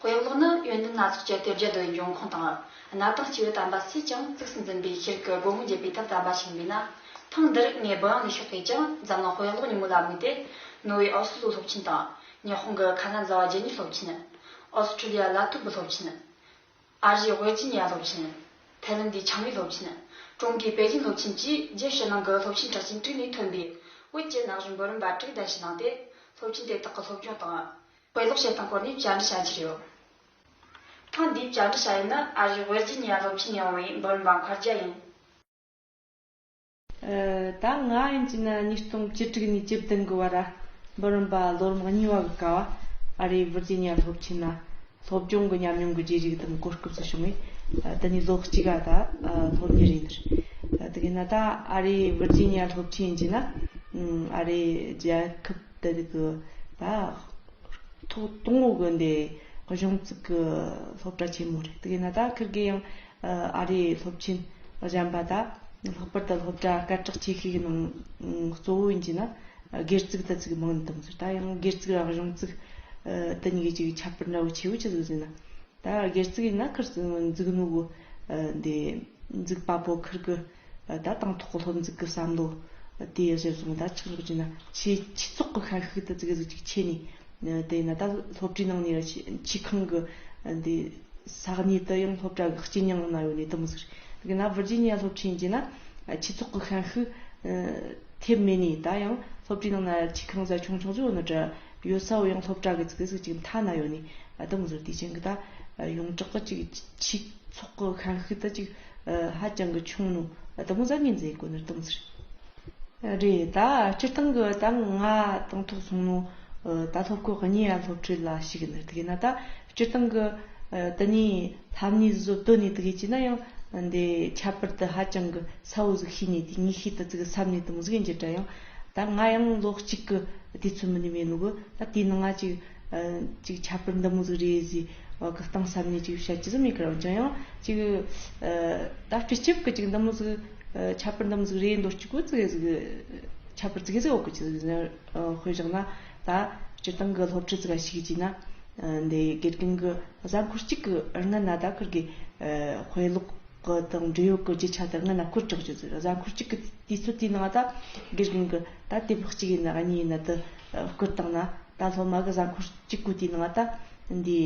གོ་ཡག་ལོག་ནི་ཡོན་ཏན་སྣ་ཚོགས་ཀྱི་དེབ་བརྒྱ་རྡོའི་འབྱུང་ཁུངས་དང། གནའ་དང་སྤྱི་བོའི་དམ་པ་སུས་ཀྱང་གཙིགས་སུ་འཛིན་པའི་ཤེལ་གྱི་སྒོ་མོ་འབྱེད་པའི་ཐབས་དམ་པ་ཞིག་འདུག་ན། ཐེངས་འདིར་ངས་འབུམ་ཡང་ལས་ཤོག་གིས་ཀྱང་འཛམ་གླིང་གོ་ཡག་ལོག་ཉིན་མོ་ལ་དམིགས་ཏེ། ནོར་ཝེའི་ཨོ་སི་ལོའི་སློབ་ཆེན་དང། ཉི་ཧོང་གི་ཁ་ན་ཛ་བ་རྗེ་ཉིད་སློབ་ཆེན། ཨོ་སི་ཁྲུ་ལི་ཡ་ལ་ཐུ་བུ་སློབ་ཆེན། ཨ་རིའི་ཝེར་ཇི་ནི་ཡ་སློབ་ཆེན། ཐའེ་ལན་དའི་ཆང་ལི་སློབ་ཆེན། ཀྲུང་གོའི་པེ་ཅིན་སློབ་ཆེན་བཅས་རྒྱལ་ཕྱི་ནང་གི་སློབ་ཆེན་གྲགས་ཅན་དྲུག་ནས་ཐོན་པའི་བོད་ཀྱི་ན་གཞོན་འབུམ་རམས་པ་དྲུག་གདན་ཞུ་གནང་སྟེ་སློབ་ཆེན་དེ་དག་གི་སློབ་སྦྱོང་དང། དཔེ་ཀློག་བྱེད་སྟངས་སྐོར་ནས་བཅར་འདྲི་བྱ་རྒྱུ་རེད། ཐེངས་འདིའི་བཅར་འདྲི་བྱ་ཡུལ་ནི་ཨ་རིའི་ཝེར་ཇི་ནི་ཡ་སློབ་ཆེན་ཡིན་འོང་བའི་འབུམ་རམས་མཁར་རྒྱ་ཡིན། ད་ང་ཡིན་གྱི་ན་ཉིས་སྟོང་བཅུ་དྲུག་ནས་བཅུ་བདུན་གི་བར་འབུམ་རམས་པ་ལོ་རིམ་གཉིས་བ་གི་ཀ་བ་ཨ་རིའི་ཝེར་ཇི་ནི་ཡ་སློབ་ཆེན་ན་སློབ་སྦྱོང་གི་ཉམས་མྱོང་གི་རྗེས་རིག་དང་གོ་སྐབས་སུ་བྱུང་བས་འདི་ནས་ལོ་གཅིག་ག་ད་སློབ་གཉེར་ཡིན། དེ་གའི་ན་ད་ཨ་རིའི་ཝེར་ཇི་ནི་ཡ་སློབ་ཆེན་ཡིན་གྱི་ན་ཨ་རིའི་རྒྱལ་ཁབ། དེ་དག་གི་བར་ཐོག་སྟོང་ལོ་དགོན་སྡེའི་གཞུང་བཙུགས་ཀྱི་སློབ་གྲྭ་ཆེན་མོ་རེད། དེ་གས་ན་ད་ཁིར་གི་ཡང་ཨ་རིའི་སློབ་ཆེན་གཞན་པ་དག་ལྷག་པར་དུ་སློབ་གྲྭ་སྐད་གྲགས་ཆེ་ཤོས་ཀྱི་ནང་གཙོ་བོ་ཡིན་གྱི་ན་སྒེར་བཙུགས་ད་བཙུགས་མང་དུ་འདུག་ཟེར་ད་ཡང་སྒེར་བཙུགས་དང་གཞུང་བཙུགས་དེ་གཉིས་ཀྱི་གཅིག་གི་ཁྱད་པར་འདྲ་བོ་ཆེ་བོ་ཅི་ཟིག་ཟེར་ན་ད་སྒེར་བཙུགས་ཡིན་ན་ཁིར་བཙུགས་ནོ་གི་འདི་བཙུགས་པ་པོ་ཁིར་གི་བདག་དང་ཐོག་སློབ་འཛུགས་ཀྱི་བསམ་བློ་དེ་གཞིར་བཟུང་བདག་ཆགས་ཕྱོགས་ཀྱི་ན་ཆེའི་ཆོས་ཚོགས་ཀྱི་ཤན་ཤུགས་དེ་གཙིགས་གཟིགས་ཅིག་བྱས་ནས། དེ་ན་ད་སློབ་གྲྭའི་ནང་ནས་ཆུས་ཁང་གི་འདི་ས་གནས་དུ་ཡང་སློབ་གྲྭ་གི་སྐྱི་ཉང་གནང་ཡོད་ནས་དུ་མི་ཟེར། དེ་ག་ན་བྷི་རྗི་ཉི་ཡ་སློབ་ཆེན་གྱི་ན་ཆོས་ཚོགས་ཀྱི་ཤན་ཤུགས་ཐེབས་མེད་ནས་ད་ཡང་སློབ་གྲྭའི་ནང་ན་ཆུས་ཁང་གཟའ་ཆུང་ཆུང་ཚོའི་འོག་ན་གྲི་ཡོད་ས་བོ་ཡང་སློབ་གྲྭ་གི་གཙིགས་གཟིགས་ཅིག་མཐའ་ན་ཡོད་ནས་དུ་མི་ཟེར་དེ་བཞིན་གྱི་ད་ཡོངས་གྲགས་ཀྱི་ཆོས་ཚོགས་ཀྱི་ཤན་ཤུགས་དེ་ཅིག་ཧ་ཅང་གི་ཆུང་ནུ་དུ་མོ་གཟབ་ཉན་མཛད་དགོས་ནི་གཏོང་ཟེར། རེད་ད་སྤྱིར་བཏང་གི་ད་ང་དང་ཐོག་སོང་ནུ་ད་ཐོག་གི་གཉིས་ཡ་སློབ་ཁྲིད་ལ་ཞིག་གི་ནི་དགེ་ན་ད་སྤྱིར་བཏང་གི་དུ་གཉིས་ལྷ་མཉེས་བཟོ་བསྡུ་ནི་དགེ་བྱས་ན་ཡང་འདི་ཁྱད་པར་དུ་ཧ་ཅང་གི་ས་བོ་ཟིག་ཤེས་ནི་དེ་གཉིས་ཤེས་དུ་ཟིག་སབ་ནི་དུ་མོ་ཟིག་ཡིན་གྱི་འདྲ་ཡང་ད་ང་ཡང་ལོག་ཅིག་གི་དེ་ཚོད་མི་ནི་མེད་ནུ་གི་ད་དེ་ནི་ང་ཅིག། ཅིག་ཁྱད་པར་འདི་མོ་ཟིག་རེད་ཟིག་གི་སྟངས་ཟབ་ནས་ཅིག་བཤད་ཀྱི་ཟིག་མི་ཁར་འོན་ཀྱང་ཡང་ཅིག་ད་སྤྲེལ་སྐྱིབས་ཀྱི་ཅིག་འདི་མོ་ཟིག་ཁྱད་པར་འདི་མོ་ཟིག་རེད་འདོད་ཅིག་གོ་ཙི་གེ་ཟིག་ཁྱད་པར་ཙི་གེ་ཟིག་འོག་གི་ཅིག་ཟིག་ཟེར་དཔེ་བཞག་ན་ད་སྤྱིར་བཏང་གི་སློབ་ཁྲིད་ཙི་ག་ཞིག་ཅིག་ན་འདི་དགེ་རྒན་གི་གཟའ་འཁོར་གཅིག་གི་རྔ་ན་ད་ཁུར་གི་དཔེ་ཀློག་གི་དང་འབྲེལ་ཡོད་ཀྱི་ཅིག་ཆ་དེ་རྔ་ན་ཁུར་དྲག་ཅིག་ཟེར་གཟའ་འཁོར་གཅིག་གི་དུས་ཚོད་དེའི་ནང་ད་དགེ་རྒན་གི་ད་དེབ་ཀློག་གཅིག་ཡིན་ན་གཉིས་ཡིན་ན་དུ་སྐུར་བཏང་ན་ད་སློབ་མ་གི་གཟའ་འཁོར་གཅིག་དགུ་དེའི་ནང་ད་འདིའི་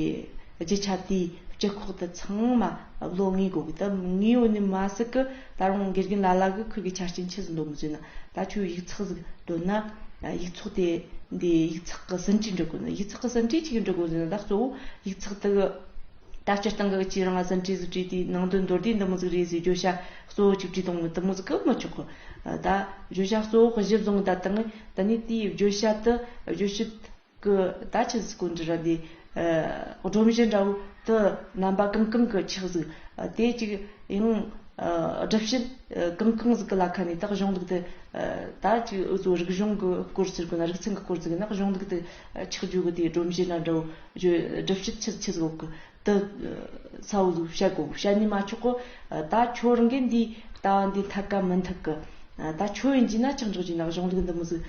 རྗེ་ཆ་དེའི་སྤྱི་ཁོག་དུ་ཚང་མ་ལོ་ལྔའི་སྒོ་གི་ད་ངའི་འོ་ནི་མ་ཟིག་གི་ད་རུང་དགེ་རྒན་ལ་ལ་གི་ཁུར་གི་ཆ་རྐྱེན་ཆི་ཟིག་འདོག་མི་བཟོད་ན་ད་ཁྱོའི་ཡིག་ཚགས་ཟིག་དོན་ན་ཡིག་ཚོགས་དེ་འདིའི་ཡིག་ཚགས་གི་ཟིན་བྲིས་འབྲི་དགོས་ན་ཡིག་ཚགས་གི་ཟིན་བྲིས་གཅིག་གི་འབྲི་དགོས་ཟེར་ན་ད་གཙོ་བོ་ཡིག་ཚགས་དེ་གི། ད་སྤྱིར་བཏང་གི་ཀྱི་རང་ལ་ཟིན་བྲིས་གཟིགས་བྲིས་དེའི་ནང་དོན་མདོར་བསྡུས་འདི་མོ་གཟིགས་རིས་བཟོས་བརྗོད་བྱ་གཙོ་བོ་གཅིག་བྲིས་སྟོང་ནི་དུ་མོ་གཟིགས་ཀྱི་མི་ཆོག་གོ། ད། བརྗོད་བྱ་གཙོ་བོ་གཞི་བཟུང་ད་དང་ད་ནི་དེའི་བརྗོད་བྱ་དུ་བརྗོད་བྱེད་ཀྱི་ད་ཆ་གཟིགས་སྐོར་འདི་ར་འདི། སྒྲོམ་གཞི་འདྲ་བོ་དུ་རྣམ་པ་གང་གང་གི་ཆགས་གཟིགས་དེ་གཅིག་ཡང། སྒྲུབ་བྱེད་གང་གང་གཟིགས་ཀྱི་ལ་ཁ་ནས་དག་གཞུང་ལུགས་དུ་ད་གཅིག་འུ་ཚོ་རིག་གཞུང་གི་སྐོར་ཟེར་དགོས་ན་རིག་ཚན་གྱི་སྐོར་ཟེར་གི་ན་གཞུང་ལུགས་དུ་ཆགས་བརྗོད་གི་དེའི་སྒྲོམ་གཞི་འདྲ་འདྲ་བོ་བསྒྲུབ་བྱེད་ཕྱིར་ཕྱིར་ལོག་གི་དུ། ས་བོན་བཞི་བྱ་དགོངས་བྱ་ཉི་མ་མཆོག་གི། ད་ཁྱོད་རང་གིས་འདིའི་ལྟ་བ་འདི་འཐད་ཀ་མི་འཐད་གི། ད་ཁྱོད་ཡིན་གྱིས་ན་ཅི་འཇོག་གྱིས་ན་གཞུང་ལུགས་འདི་མི་གཟིགས།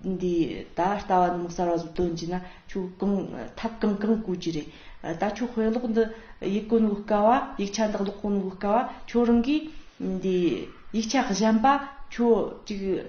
འདིའི་ད་ལྟ་བ་འདི་མི་གསར་བ་ཟིག་སྟོན་གྱིས་ན་ཁྱོད་གང་ཐབས་གང་གང་བཀོལ་གྱི་རེད། ད་ཁྱོད་དཔེ་ཀློག་འདི་ཡིག་ཀུན་དབུལ་དཀའ་བ་ཡིག་ཆ་འདི་ཀློག་ཀུན་དབུལ་དཀའ་བ་ཁྱོད་རང་གིས། འདིའི་ཡིག་ཆ་གཞན་པ་ཁྱོད་ཅིག།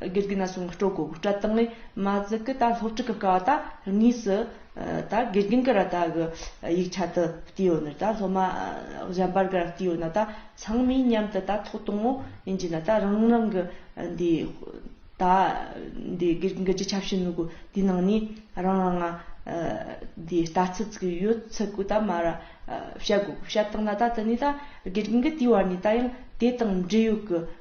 དགེ་སྡིག་ན་སོང་གི་སྤྲོ་གོ་གི་སྤྲ་ཐང་ལས་མ་ཟི་གི་ད་ལྷོ་ཕྲུག་གི་ཀ་བ་ད་ངོས་སུ་ད་དགེ་རྒན་གི་ར་ད་གི་ཡིག་ཆ་དུ་བལྟས་ཡོད་ནི་ད་ལྷོ་མ་གཞན་པར་གི་ར་བལྟས་ཡོད་ན་ད་ཚང་མས་མཉམ་དུ་ད་ཐོག་དང་བོ་ཡིན་རྒྱུ་ན་ད་རང་རང་གི་འདི་ད་འདི་དགེ་རྒན་གི་རྗེ་ཆབ་སྲིད་ནོར་གོ་དེ་ནང་ནས་རང་རང་ང་འདི་ལྟ་ཚུལ་བརྩི་གི་ཡོད་ཚུལ་གོ་ད་མ་ར་བཤད་གོ་གི་བཤད་སྟངས་ན་ད་དེ་ནས་ད་དགེ་རྒན་གི་དེའི་བར་ནས་ད་ཡང་དེ་དང་འབྲེལ་ཡོད་གི།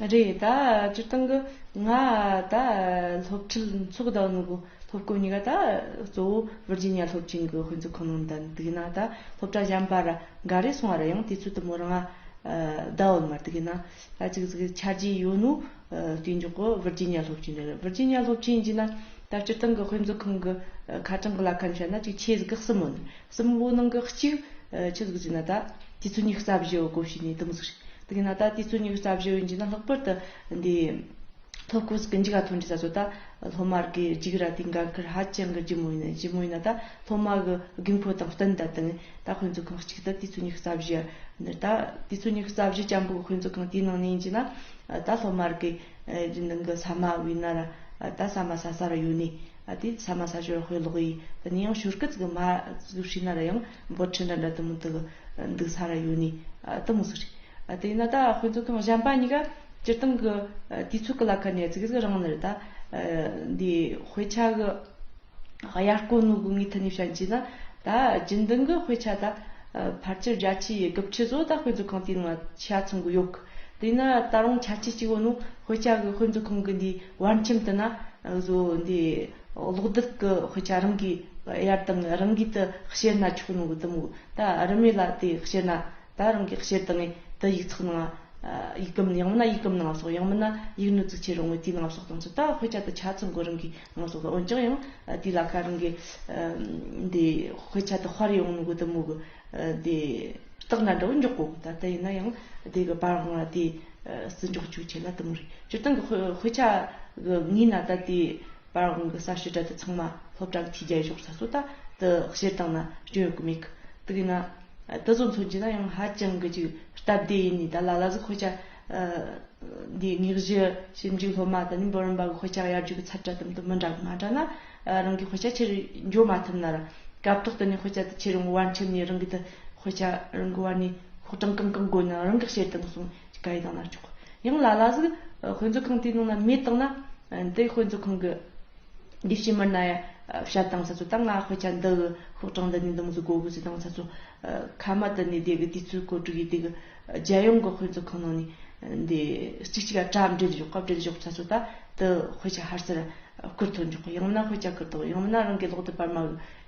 རེད་ད་སྤྱིར་བཏང་གི་ང་ད་སློབ་ཁྲིད་འཚོག་གདའ་ནི་གོ་སློབ་གོ་གཉིས་ཀ་ད་གཙོ་བོ་བིར་ཇི་ཉི་ཡ་སློབ་ཆེན་གི་དཔོན་ཚུགས་ཁང་ནང་གདའ་འདུག་ཡིན་ན་ད་སློབ་གྲྭ་གཞན་པར་འགའ་རེ་སོང་བ་རེད་ཡང་དུས་ཚོད་དུ་མོ་རང་གདའ་འོད་མ་འདུག་ཡིན་ན་ད་གཅིག་གཟིགས་ཆ་རྒྱུས་ཡོད་ནོ་དུས་མཇུག་གི་བིར་ཇི་ཉི་ཡ་སློབ་ཆེན་རེད་བིར་ཇི་ཉི་ཡ་སློབ་ཆེན་ཡིན་ན་ད་སྤྱིར་བཏང་གི་དཔོན་ཚུགས་ཁང་གི་ཁ་གྲངས་གི་ལ་ཁ་ནས་བཤད་ན་གཅིག་ཆའི་གཟིགས་ཁག་གསུམ་མོ་འདུག་གསུམ། ལོ་ནང་གི་གཅིག། ཆུ་གཟུགས་ཀྱི་ནད། དུས་ཚོད་ཉི་རྩ་བཞི་བའི་གོམས་གཤིས་ནི་དིམ་བསགས་རེད། དེ་གིས་ན་ད་དུས་ཚོད་ཉི་རྩ་བཞི་བའི་མཇུག་ན་ལྷག་པར་དུ་འདི། ཐོ་བཀོད་ཀྱི་འཇིག་ལ་ཐོན་འདྲི་ས་སོ་ད། སློབ་མར་གྱི་འཇིག་ར་དེའི་འགན་ཁུར་ཧ་ཅང་གི་ལྗི་མོ་ཡིན། ལྗི་མོ་ཡིན་ན་ད་སློབ་མ་གི་དགོས་མཁོ་དང་བསྟུན་ད་དེང་ད་དཔེ་མཛོད་ཁང་གཅིག་ཏུ་དུས་ཚོད་ཉི་རྩ་བཞི། འདིར་ད་དུས་ཚོད་ཉི་རྩ་བཞི་ལྕམ་པོ་གི་དཔེ་མཛོད་ཁང་དེའི་ནང་ནས་ཡིན་གྱི་ན། ད་སློབ་མར་གྱི། རྒྱུན་ལྡན་གྱི་ས་མ་བི་ན་ར། ད་ས་མ་ས་ས་ར་ཡོད་ནི། ཨ་ཏི་ས་མ་ས་ཞོར་ཧོས་ལོག་ཡིས་ད་ནི་ཡང་ཞོར་སྐད་ཚིག་གི་མ་ཟུག་ཤི་ན་ར་ཡང་འབོར་ཆེན་འདྲ་འདྲ་དུ་མུ་དག་འདུག་ས་ར་ཡོད་ནི་དུ་མུ་ཟུག་རེད་དེ་ན་ད་ཧོས་ཚོ་ཐང་གཞན་པ་གཉིས་ཀ་སྤྱིར་བཏང་གི་དུས་ཚོད་གི་ལ་ཁ་ནས་ཚིག་ཚིག་རང་ནི་རེད་ད་འདི་ཧོས་ཆ་གི་དབྱར་དཀོན་ནུ་གུ་ངའི་ཐུ་ནི་བྱན་གྱིས་ན་ད་རྒྱུན་ལྡན་གི་ཧོས་ཆ་ད་ཕར་ཆེར་རྒྱ་ཆེའི་གི་བྱི་བཟོ་ད་ཧོས་ཚོ་གང་དུས་ནང་ལ་ཆ་ཚང་གི་ཡོད་གི། དེས་ན་ད་རུང་ཆ་རྐྱེན་གཅིག་པོ་ནི་དཔེ་ཆ་གི་དཔེ་མཛོད་ཁང་གི་འདིའི་བར་ཁྱིམ་དུ་ན་བཟོ་འདི་གློག་རྡུལ་གྱི་དཔེ་ཆ་རང་གིས་གཡར་སྟངས་རང་གིས་དེ་བཤེར་ན་ཆོག་ནང་གི་གཏུམ་མོ་ད་རུ་མེད་ལ་དེ་བཤེར་ན་ད་རང་གིས་བཤེར་དང་ངས་དེ་ཡིག་ཚགས་ནང་ཡིག་སྐམ་ཡང་མིན་ན་ཡིག་སྐམ་ནང་བསོགས་ཡང་མིན་ན་ཡིག་ནུས་བཙུགས་ཆེ་རུང་བའི་དེའི་ནང་བསོགས་དང་ཚུལ་ད་དཔེ་ཆ་དེ་ཆ་ཚང་གི་རང་གིས་ནང་བསོགས་དང་འོན་ཀྱང་ཡང་དེའི་ལ་ཁ་རང་གིས་འདི་དཔེ་ཆ་དེ་དཔར་ཡོང་ནང་གི་གཏུམ་མོ་གི་དེ་རྟགས་ན་འདྲ་བོ་མགྱོགས་པོ་ད་ལྟ་ཡིན་ན་ཡང་དེ་གི་བར་དབང་ལ་དེ་བརྩི་འཇོག་བཅུག་ཆེ་ལ་དུ་མ་རེད་སྤྱིར་བཏང་གི་དཔེ་ཆ་གི་ངོས་ན་ད་ལྟའི་བར་དབང་གི་གསར་ཤོས་གྲལ་དུ་ཚང་མ་སློབ་གྲྭ་གི་ཐིས་རྒྱལ་ཞོགས་ས་སོ་ད་དུ་བཤེར་བཏང་ན་སྐྱོན་ཡོད་གི་མེད་གི་དེ་གི་ན་དེ་ཚོ་མཚོན་གྱི་ན་ཡང་ཧ་ཅང་གི་ཅིག་སྟབས་བདེ་ཡིན་ནི་ད་ལ་ལ་ཟུག་དཔེ་ཆ་འདིའི་དངོས་གཞི་ཞིབ་འཇུག་སློབ་མ་དང་ནི་འབུམ་རམས་པ་གི་དཔེ་ཆ་ཡར་རྒྱུག་གི་ཚབ་བྱ་ཙམ་དུ་མི་འདྲ་གི་མ་འདྲ་ན་རང་གི་དཔེ་ཆ་ཕྱིར་འབྱོར་མ་ཐུབ་ནར། སྐབས་ཐོག་ཏུ་ནི་དཔེ་ཆ་དེ་ཕྱིར་འོང་བར་འཁྲིམས་ནས་རང་གི་དེ་དཔེ་ཆ་རང་གི་བར་ནས་ཕོགས་གྲངས་གང་གང་བགོས་ན་རང་གི་བྱེད་སྟངས་སོང་ཅི་ག་ཡི་དང་ན་ཆོག་ཡང་ལ་ལ་ཟིག་དཔེ་མཛོད་ཁང་དེའི་ནང་ན་མེད་བཏང་ན། དེ་དཔེ་མཛོད་ཁང་གི་འདུས་བྱས་མི་སྣ་ཡ་བྱ་དང་ས་ཚོ་ད་ང་དཔེ་ཆ་འདི་གི་ཕོགས་གྲངས་འདི་ནས་འདི་མ་ཟིག་བགོ་དགོས་ཟིག་དང་ས་ཚོ་ཁ་མ་དུ་ནས་དེ་གི་དུས་ཚོད་གོ་དྲུག་ཡི་དེ་གི། རྒྱལ་ཡོངས་ཀྱི་དཔེ་མཛོད་ཁང་ནང་ནས་འདི་གཅིག་གཅིག་ག་དྲ་འབྲེལ་བཞུགས་སྐབས་འབྲེལ་གཞུག་ཚ་ཚོད་ད་དུ་དཔེ་ཆ་ཧར་སེར་བསྐུར་ཐོན་འཇུག་གི་ཡང་མིན་ན་དཔེ་ཆ་ཁུར་ཐོག་ཡང་མིན་ན་རང་གི་ལོག་དེབ་པར་མ་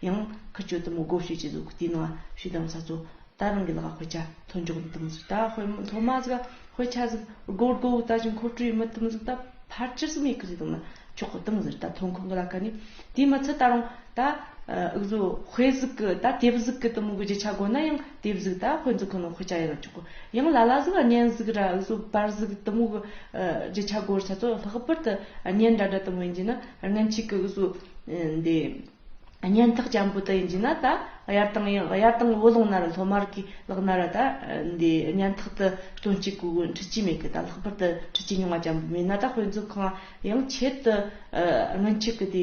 གི་ཡང་ཁུར་སྤྱོད་དུ་མི་དགོས་ཞུས་ཀྱི་འདུག་དེའི་ནང་ཞུས་དང་ཚ་ཚོད་ད་རང་གི་ལག་དཔེ་ཆ་ཐོན་འཇུག་མི་ཐུབ་ཟིག་ད་དཔེ་མཐོ་དམའ་ཟིག་དཔེ་ཆ་ཟིག་དགོས་དགོས་དགོས་ད་ཅི་མཁོ་སྤྲོད་མི་ཐུབ་ཟིག་ད་ཕར་ཅི་ཟིག་མེད་གི་ཟིག་དང་ན་ཆོག་གི་དང་ཟིག་ད་ཐོན་ཁུངས་གི་ལ་ཀ་ནི་དེའི་མི་ཚད་ད་རང་ད་དབུགས་བཟོ་དཔེ་ཟིག་གི་ད་དེབ་ཟིག་གི་དུ་མི་དགོས་རྒྱུ་ཆ་དགོས་ན་ཡང། དེ་བཟུག་ད་དཔོན་ཚུག་གི་ནོ་ཁུ་ཅག་ཡེ་རོ་ཅོག་གོ་ཡང་ལ་ལ་ཟུག་གཉན་ཟུག་ར་ཟུག་བར་ཟུག་གཏི་མུག་རྗེ་ཆ་གོར་ཆ་ཚོ་ལྷག་པར་དུ་གཉན་འདྲ་འདྲ་དུ་མོ་ཡིན་གྱི་ན་རྔན་ཆིག་གི་གཟུ་འདི་གཉན་ཐག་ཅན་པོ་དུ་ཡིན་གྱི་ན་ད་ཡར་དང་ཡར་དང་བུ་ལོང་ན་ར་ལྷོ་མར་གི་ལག་ན་ར་ད་འདི་གཉན་ཐག་དུ་སྟོན་ཅིག་གུ་གུ་འཁྲི་ཅི་མེད་གི་ད་ལྷག་པར་དུ་འཁྲི་ཅི་མྱོང་བ་ཅན་པོ་མིན་ན་ད་དཔོན་ཚུག་གང་ཡང་ཆེད་དུ་རྔན་ཆིག་གི་དེ།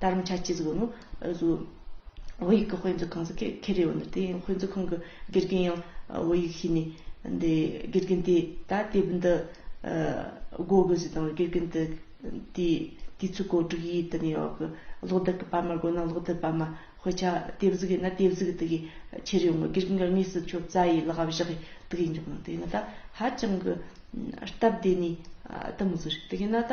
དར་མ་ཆ་གཅིག་གཟུགས་ནོ། གཟུགས། བོད་ཡིག་གི་དཔེ་མཛོད་ཁང་སོགས་ཁེ་ཁེ་རེད་འོ་ན་དེ་ཡང་དཔེ་མཛོད་ཁང་གི་དགེ་རྒན་ཡང་བོད་ཡིག་ཤེས་ནས་འདི་དགེ་རྒན་དེས་ད་དེབ་འདི་བགོ་དགོས་ཟེར་དང་དགེ་རྒན་དེ་དེས་དེ་ཚོའི་གོ་སྒྲིག་ཡིད་དུ་ནས་ཡོད་གི་ཀློག་བདེ་གི་པར་མ་བགོ་ན་ཀློག་བདེ་པར་མ་དཔེ་ཆ་དེབ་གཟུགས་ཡིན་ན་དེབ་གཟུགས་དེ་གའི་ཕྱིར་ཡོང་གི་དགེ་རྒན་གྱི་དངོས་སུ་ཁྱོད་རྩ་ཡིས་ལག་བཞག་གིས་དེ་གའི་འཇོག་ན་དེ་ཡིན་ན་ད་ཧ་ཅང་གི་སྟབས་བདེ་ནས་ད་མི་བཟོ་རིགས་དེ་གའི་ན་ད།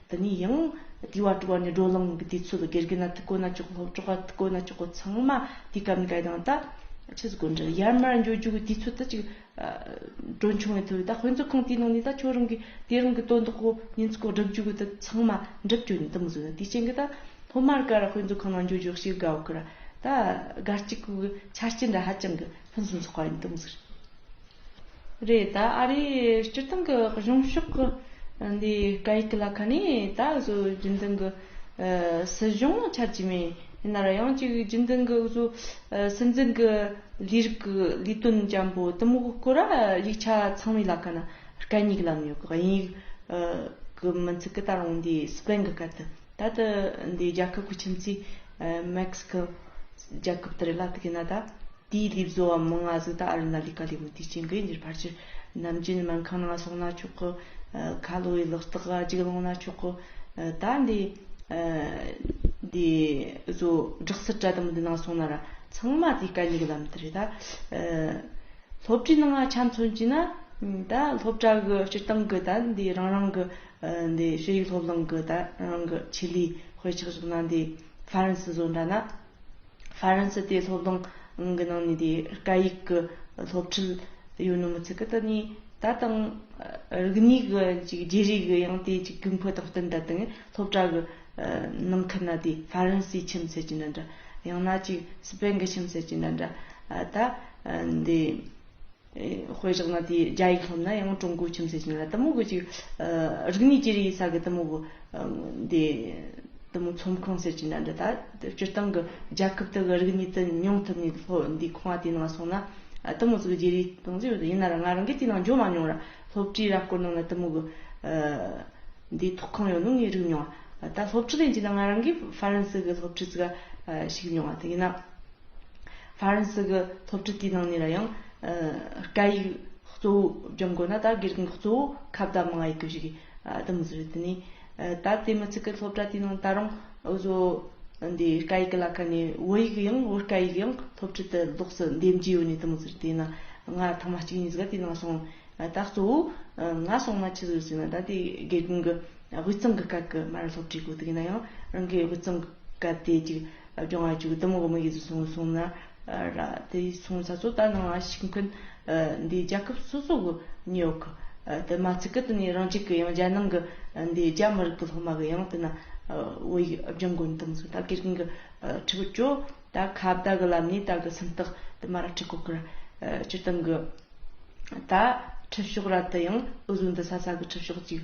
འདི་ནས་ཡང་དུས་བ་དྲུག་བ་ནས་སྒྲོ་ལངས་ཀྱི་དུས་ཚོད་དགེ་རྒན་ལ་ཐུགས་དཀོན་ན་ཅོག་ལྷོ་བྲག་དཀོན་ན་ཅོག་ལྷོ་ཚང་མ་དུས་སྐབས་འགའི་ནང་ད། ཕྱི་སྒོ་འགྲིལ་ཡར་མར་འགྱོད་རྒྱུག་གི་དུས་ཚོད་ད་ཅིག་སྒྲོ་འཆུང་བའི་དུས་ད་དཔོན་ཚོགས་ཁང་དེའི་ནང་ནས་ད་ཁྱོད་རང་གི་དེ་རིང་གི་དོན་དག་གོ་ཉིན་ཚོགས་སྒྲུབ་རྒྱུ་གི་ད་ཚང་མ་འགྲུབ་ཀྱོ་ཉིན་ད་མི་བཟོད་ན་དུས་ཆེན་གི་ད་སློབ་མར་ཀ་ར་དཔོན་ཚོགས་ཁང་ནང་འགྱོད་རྒྱུག་བྱེད་དགའ་བོ་ཀི་ར་ད་དགའ་སྐྱིད་གི་ཆ་རྐྱེན་འདྲ་ཧ་ཅང་གི་ཕུན་སུམ་ཚོགས་པ་ཡིན་ད་མི་བཟོད། རེད་ད་ཨ་རིའི་སྤྱིར་བཏང་གི་གཞུང་ཕྱོགས་འདིའི་སྐད་ཡིག་ལ་ཁ་ནས་ད་གཟོད་རྒྱུན་ལྡན་གྱི་སྲིད་གཞུང་ཆགས་ཀྱི་མེད་ནར་ཡང་གཅིག་རྒྱུན་ལྡན་གྱི་བཟོ་སྲིད་འཛིན་གྱི་ལས་རིགས་ཀྱི་ལས་དོན་བརྒྱན་པོ་གཏི་མུག་སྐོར་ར་ཡིག་ཆ་ཚང་མའི་ལ་ཁ་ན་སྐད་སྙིགས་ལམ་ཡོད་གི་དབྱིན་ཡིག་གི་མི་ཚིག་གི་ད་རུང་འདི་སྤེན་གྱི་སྐད་དུ་ད་དུ་འདི་རྒྱལ་ཁབ་ཀྱི་ཁྱིམ་མཚེས Mexico རྒྱལ་ཁབ་དེ་རིགས་ལ་དགེ་ན་ད། དེའི་ལུས་བཟོ་བ་མི་ལྔ་གཟུགས་དག་ཨ་རུ་ན་ལི་ཀ་ལས་མུ་ཏིག་ཅན་གྱིས་འདིར་ཕར་ཆེར་ནམ་རྒྱུན་སྨན་ཁང་ནང་སོང་ན་ཆོག་གོ། ཁ་ལོ་བའི་ལག་རྟགས་འགའ་འཇིག་སློང་ན་ཆོག་གོ། ད་འདི། འདི། བཟོ། སྦྲག་སྲིད་བཀྲ་དམ་འདི་ནང་སོང་ན་ར་ཚང་མ་དེའི་སྐལ་ཉིག་ལམ་དུ་རེད་ད། སློབ་གྲྭའི་ནང་ང་ཆ་མཚོན་གྱིས་ན། ད་སློབ་གྲྭ་གི་སྤྱིར་བཏང་གི་ད་འདི་རང་རང་གི། འདི་ཤེས་ཡིག་སློབ་གླིང་གི་ད་རང་གི་ཆེད་ལས་དཔེ་ཆགས་བཞག་ན་འདི་ཧྥ་རན་སི་བཟོ་འདྲ་ན། ཧྥ་རན་སི་དེ་སློབ་གླིང་གི་ནང་ནས་དེ་སྐད་ཡིག་གི་སློབ་ཁྲིད་ཡོད་ནོ་མི་ཚད་གི་ད་ནི་ད་དང་རིག་གནས་གི་ཅིག་རྗེས་རིག་གི་ཡང་དེ་ཅིག་གུས་འཕོད་དང་བསྟུན་ད་དེང་སློབ་གྲྭ་གི་ནང་ཁུལ་ན་དེ་ཧྥ་རན་སིའི་ཁྱིམ་མཚེས་ཀྱི་འདྲ་འདྲ་ཡང་ན་ཅིག་སི་པན་གི་ཁྱིམ་མཚེས་ཀྱི་འདྲ་འདྲ་ད་འདི། དཔེ་བཞག་ན་དེའི་རྒྱ་ཡིག་སློབ་ན་ཡང་ཀྲུང་གོའི་ཁྱིམ་མཚེས་ཀྱི་ན་གཏི་མུག་གི་ཅིག་རིག་གནས་ཀྱི་རིག་གསར་གྱི་གཏི་མུག་དེ་གཏི་མུག་ཚོམས་ཁང་ཟེར་གྱི་ན་འདི་ད་སྤྱིར་བཏང་གི་རྒྱལ་ཁབ་དག་གི་རིག་གནས་དུ་མྱོང་ཐུབ་ནས་སློབ་འདིའི་ཁང་བ་དེའི་ནང་སོང་ན་གཏི་མུག་ཟིག་རྗེ་རེ་གཏོང་རྩིས་ཡོད་དོ་ཡིན་ན་ར་ང་རང་གིས་དེའི་ནང་འཇོག་མ་མྱོང་ར་སློབ་ཁྲིའི་ར་སྐོར་ནང་ན་གཏི་མུག་གི་འདིའི་ཐོག་ཁང་ཡོད་ནོ་ངས་རིག་མྱོང་བ་ད་སློབ་ཁྲི་ལེན་གྱི་ན་ང་རང་གིས་ཧྥ་རན་སི་གི་སློབ་ཁྲི་ཟིག་ག་ཞིག་མྱོང་བ་དེ་ཡིན་ན། ཧྥ་རན་སི་གི་སློབ་ཁྲིད་དེའི་ནང་ནས་ལ་ཡང། སྐད་ཡིག་གཙོ་བོ་སྦྱོང་དགོས་ན་ད་དགེ་རྒན་གྱི་གཙོ་བོ་ཁ་བརྡ་མང་བ་ཡིན་དགོས་ཞིག་གདམས་གསུངས་རེད་དེ་ནས། ད་དེ་མི་ཚིག་གི་སློབ་གྲྭ་དེའི་ནང་ད་རུང་འུ་བཟོ་འདི་སྐད་ཡིག་གི་ལ་ཁ་ནས་བོད་ཡིག་ཡང་བོད་སྐད་ཡིག་ཡང་སློབ་ཁྲིད་དུ་ལོགས་སུ་འདེམས་ཀྱི་ཡོད་ནས་གདམས་གསུངས་རེད་དེ་ན། ང་ཐ་མ་གཅིག་གཉིས་ཀ་དེའི་ནང་སོང། ད་གཙོ་བོ་ང་སོང་ན་ཅི་ཟེར་ཟེར་ན་ད་དེ་དགེ་རྒན་གྱི་དབུས་གཙང་གི་སྐད་ཀྱི་མར་སློབ་ཁྲིད་དགོས་དགོས་ན་ཡང་རང་གི་དབུས་གཙང་གི་སྐད་དེ་ཅིག། སྦྱོང་བ་གཅིག་གི་གཏམ་འོག་མ་ཡིག་ཏུ་བཟུང་བ་སོང་ན་ར། དེ་ཡི་མཚུངས་ས་གཙོ་བདག་ནང་བ་ཞིག་མཁན། འདིའི་རྒྱལ་ཁབ་སོ་སོ་གི་ཉོག་གི། དེ་མ་ཚིག་གི་དུ་ནས་རང་ཅིག་གི་ཡང་རྒྱལ་ནང་གི། འདིའི་རྒྱ་མི་རིགས་ཀྱི་སློབ་མ་གི་ཡང་དེ་ན། བོད་ཡིག་སྦྱང་དགོས་ནི་དང་མཚུངས་ད་གེར་གིང་གི། ཁྲི་བུ་ཅོ། ད་ཁ་བརྡ་གི་ལམ་ནས་ད་གི་སེམས་རྟགས་དེ་མ་ར་ཁྲི་ཁོ་ཁི་ར། སྤྱིར་བཏང་གི། ད་ཁྲི་ཕྱོགས་ར་དེ་ཡང་འུ་བཟོ་འདི་ས་ས་གི་ཁྲི་ཕྱོགས་ཅིག།